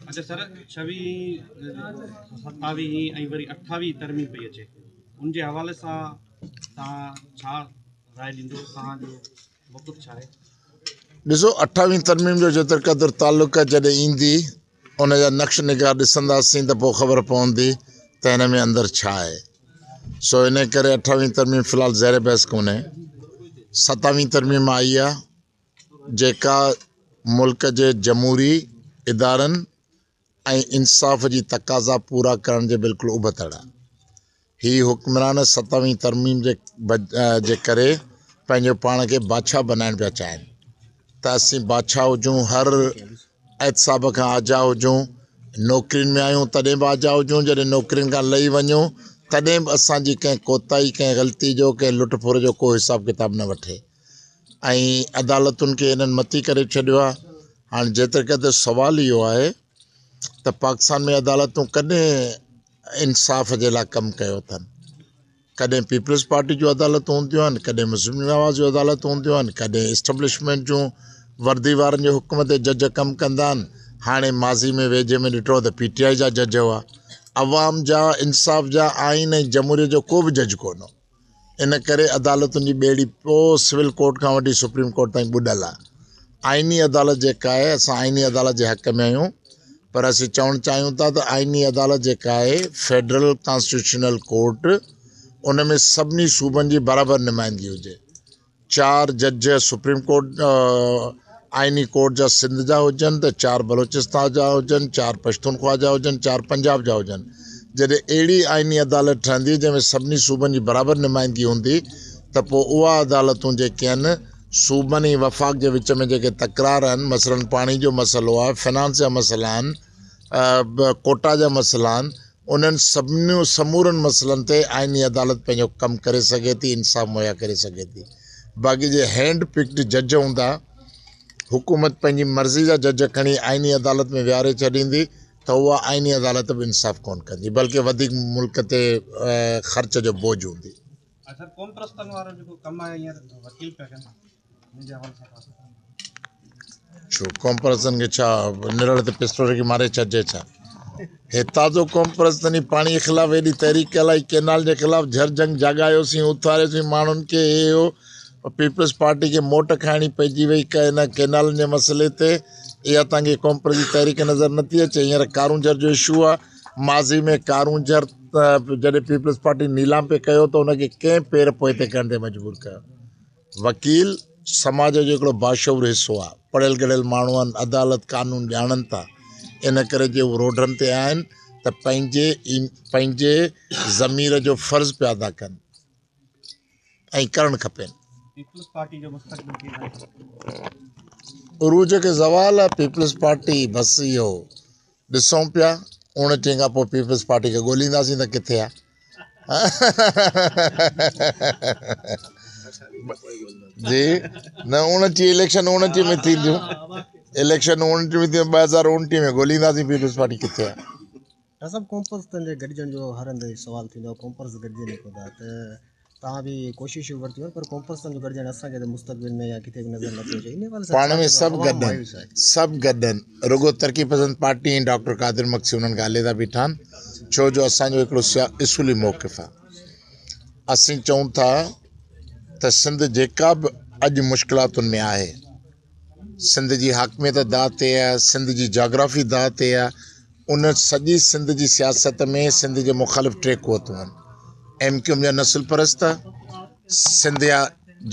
اچا سر ڇويهين ستاويهين ۽ وري اٺاويهين ترميم پئي اچي ان جي حوالي سان تان ڇا راء ڏيندو تان جو موقف ڇا آهي ڏسو اٺاويهين ترميم جو جيتر قدر تعلق آهي جڏهن ايندي ان جا نقش نگار ڏسنداسين ته پوء خبر پوندي ته هن ۾ اندر ڇا آهي سو ان ڪري اٺاويهين ترميم في الحال زهر بحث ڪونهي ستاويهين ترميم آئي آهي جيڪا ملڪ جي جمهوري ادارن ۽ انصاف جي تقاضا پورا ڪرڻ جي بلڪل ابتڙ آهي. هي حڪمران ستوين ترميم جي ڪري پنهنجو پاڻ کي بادشاهه بنائڻ پيا چاهين ته اسين بادشاهه هجون هر احتساب کان آجا هجون نوڪرين ۾ آهيون تڏهن به آجا هجون جڏهن نوڪرين کان لهي وڃون تڏهن به اسان جي ڪنهن ڪوتاهي ڪنهن غلطي جو ڪنهن لٽ ڦر جو ڪو حساب ڪتاب نه وٺي ۽ عدالتن کي انهن متي ڪري ڇڏيو آهي هاڻ جيتر قدر سوال اهو آهي ته پاڪستان ۾ عدالتون ڪڏهن انصاف جي لاء ڪم ڪيو اٿن ڪڏهن پيپلز پارٽي جون عدالتون هونديون آهن ڪڏهن مسلم نواز جون عدالتون هونديون آهن ڪڏهن اسٽبلشمنٽ جون وردي وارن جي حڪم تي جج ڪم ڪندا آهن هاڻي ماضي ۾ ويجهي ۾ ڏٺو ته پي ٽي آء جا جج هئا عوام جا انصاف جا آئين ۽ جمهوريت جو ڪو به جج ڪونه ان ڪري عدالتن جي ٻيڙي پوء سول ڪورٽ کان وٺي سپريم ڪورٽ تائين ٻڏل آهي آئيني عدالت جيڪا آهي اسان آئيني عدالت جي حق ۾ آهيون پر اسين چوڻ چاهيون ٿا ته آئيني عدالت جيڪا آهي فيڊرل ڪانسٽيٽيوشنل ڪورٽ ان ۾ سڀني صوبن جي برابر نمائندگي هجي چار جج سپريم ڪورٽ آئيني ڪورٽ جا سنڌ جا هجن ته چار بلوچستان جا هجن چار پشتونخوا جا هجن چار پنجاب جا هجن جڏهن اهڙي آئيني عدالت ٺهندي جنهن ۾ سڀني صوبن جي برابر نمائندگي هوندي ته پوء اها عدالتون جيڪي آهن صوبن ۽ وفاق جي وچ ۾ جيڪي تڪرار آهن مثلاً پاڻي جو مسئلو آهي فنانس جا مسئلا آهن ڪوٽا جا مسئلا آهن انهن سڀني سمورن مسئلن تي آئيني عدالت پنهنجو ڪم ڪري سگهي ٿي، انصاف مهيا ڪري سگهي ٿي. باقي جي هينڊ پڪڊ جج هوندا، حڪومت پنهنجي مرضي جا جج کڻي آئيني عدالت ۾ ويهاري ڇڏيندي ته اها آئيني عدالت به انصاف ڪونه ڪندي بلڪه وڌيڪ ملڪ تي خرچ جو بوجهه هوندي. ڇو ڪومپرسن کي ڇا نرڙ تي پسٽو رکي ماري ڇڏجي ڇا هتان جو ڪومپرسن ئي پاڻي خلاف ايڏي تحريڪ هلائي ڪينال جي خلاف جھر جنگ جاڳايوسين اٿاريوسين ماڻهن کي هي هو پيپلز پارٽي کي موٽ کائڻي پئجي وئي ان ڪينالن جي مسئلي تي اها توهان کي ڪومپرس جي تحريڪ نظر نٿي اچي هينئر ڪارون جھر جو اشو آ ماضي ۾ ڪارون جھر جڏهن پيپلز پارٽي نيلام پي ڪيو ته ان کي ڪنهن پير پوئتي ڪرڻ تي مجبور ڪيو وڪيل سماج جو هڪڙو باشعور حصو آهي، پڙهيل ڳڙهيل ماڻهو آهن، عدالت قانون ڄاڻن ٿا، ان ڪري جي هو روڊن تي آهن ته پنهنجي پنهنجي ضمير جو فرض پيا ادا ڪن ۽ ڪرڻ کپين. پيپلز پارٽي جو مستقبل ڪيئن ٿا ڏسو؟ عروج کي زوال آهي پيپلز پارٽي بس اهو ڏسون پيا اوڻٽيهه کان پوء پيپلز پارٽي کي ڳولينداسين ته ڪٿي آ جي نه اوڻٽيهه اليڪشن اوڻٽيهه ۾ ٿينديون اليڪشن اوڻٽيهه ۾ ٿينديون ٻه هزار اوڻٽيهه ۾ ڳولينداسين پيپلز پارٽي ڪٿي آ ڊاڪٽر صاحب ڪونپرس تنهنجي گڏجڻ جو هر هنڌ سوال ٿيندو آ ڪونپرس گڏجي نڪو ٿا ته توهان به ڪوششون ورتيون آهن پر ڪونفرنس سمجهه گڏجڻ اسان کي ته مستقبل ۾ يا ڪٿي به نظر نه پيو اچي ان حوالي سان پاڻ ڇا ۾ چئبو سڀ عوام گڏ مايوس آهي آهن سڀ گڏ آهن رڳو ترقي پسند پارٽي ۽ ڊاڪٽر قادر مگسي انهن کان عليحده بيٺا آهن ڇو جو اسان جو هڪڙو سيا اصولي موقف آهي اسين چئون ٿا ته سنڌ جيڪا به اڄ مشڪلاتن ۾ آهي سنڌ جي حاڪميت داء تي آهي، سنڌ جي جاگرافي داء تي آهي، ان سڄي سنڌ جي سياست ۾ سنڌ جي مخالف ٽي قوتون آهن، ايم ڪيو ايم جا نسل پرست، سنڌ جا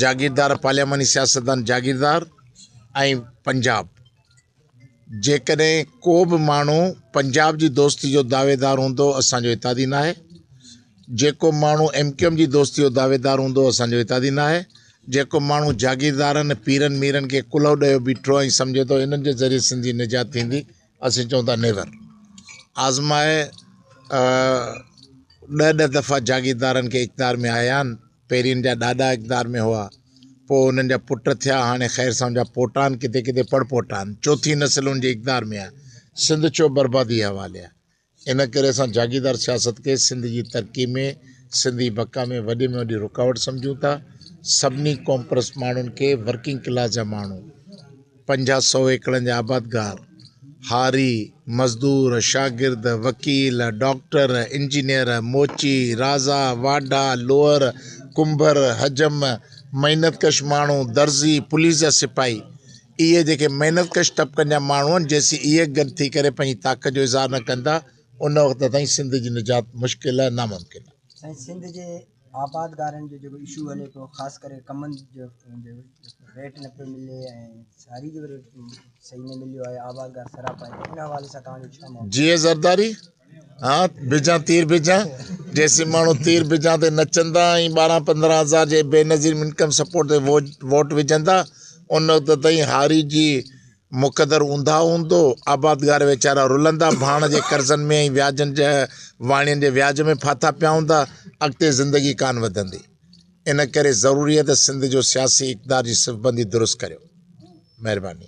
جاگيردار پارلياماني سياستدان جاگيردار ۽ پنجاب، جيڪڏهن ڪو به ماڻهو پنجاب جي دوستي جو دعويدار هوندو اسان جو اتحادي ناهي، جيڪو ماڻهو ايم ڪيو ايم جي دوستي جو دعويدار هوندو اسان جو اتحادي ناهي، جيڪو ماڻهو جاگيردارن ۽ پيرن ميرن کي ڪلهو ڏيو بيٺو ۽ سمجهي ٿو انهن جي ذريعي سنڌ جي نجات ٿيندي اسين چئون ٿا نيور آزمائي ڏهه ڏهه دفعا جاگيردارن کي اقدار ۾ آيا آهن پهرين جا ڏاڏا اقدار ۾ هئا پوء انهن جا پٽ ٿيا هاڻي خير سان جا پوٽا آهن ڪٿي ڪٿي پڙ پوٽا آهن چوٿين نسل ان جي اقدار ۾ آهي سنڌ ڇو بربادي حوالي آهي ان ڪري اسان جاگيردار سياست کي سنڌ جي ترقي ۾ سنڌ جي بقا ۾ وڏي ۾ وڏي رڪاوٽ سمجهون ٿا سڀني ڪومپرس ماڻهن کي ورڪنگ ڪلاس جا ماڻهو پنجاهه سو ايڪڙن جا آبادگار هاري مزدور شاگرد وڪيل ڊاڪٽر انجنيئر موچي رازا واڍا لوهر ڪنڀر حجم محنت ڪش ماڻهو درزي پوليس جا سپاهي اهي جيڪي محنت ڪش طبقن جا ماڻهو آهن، جيسين اهي گڏ ٿي ڪري پنهنجي طاقت جو اظهار نه ڪندا، ان وقت تائين سنڌ جي نجات مشڪل آهي، ناممڪن آهي. سائين سنڌ جي آبادگارن جو جيڪو اشو هلي پيو خاص ڪري ڪمن جو ريٽ نه پيو ملي ۽ ساري جو ريٽ صحيح نه مليو آهي آبادگار سراپا آهن ان حوالي سان توهان جو ڇا مون جي زرداري. ها بجان تير بجان جيسين ماڻهو تير بجان تي نچندا ۽ ٻارهن پندرهن هزار جي بي نظير انڪم سپورٽ تي ووٽ وجهندا ان وقت تائين هاري جي مقدر اونداهه هوندو آبادگار ويچارا رلندا ڀاڻ جي قرضن ۾ ۽ وياجن جي واڻين جي وياج ۾ ڦاٿا پيا هوندا اڳتي زندگي ڪان وڌندي ان ڪري ضروري آهي ته سنڌ جو سياسي اقدار جي صفبندي درست ڪريو مهرباني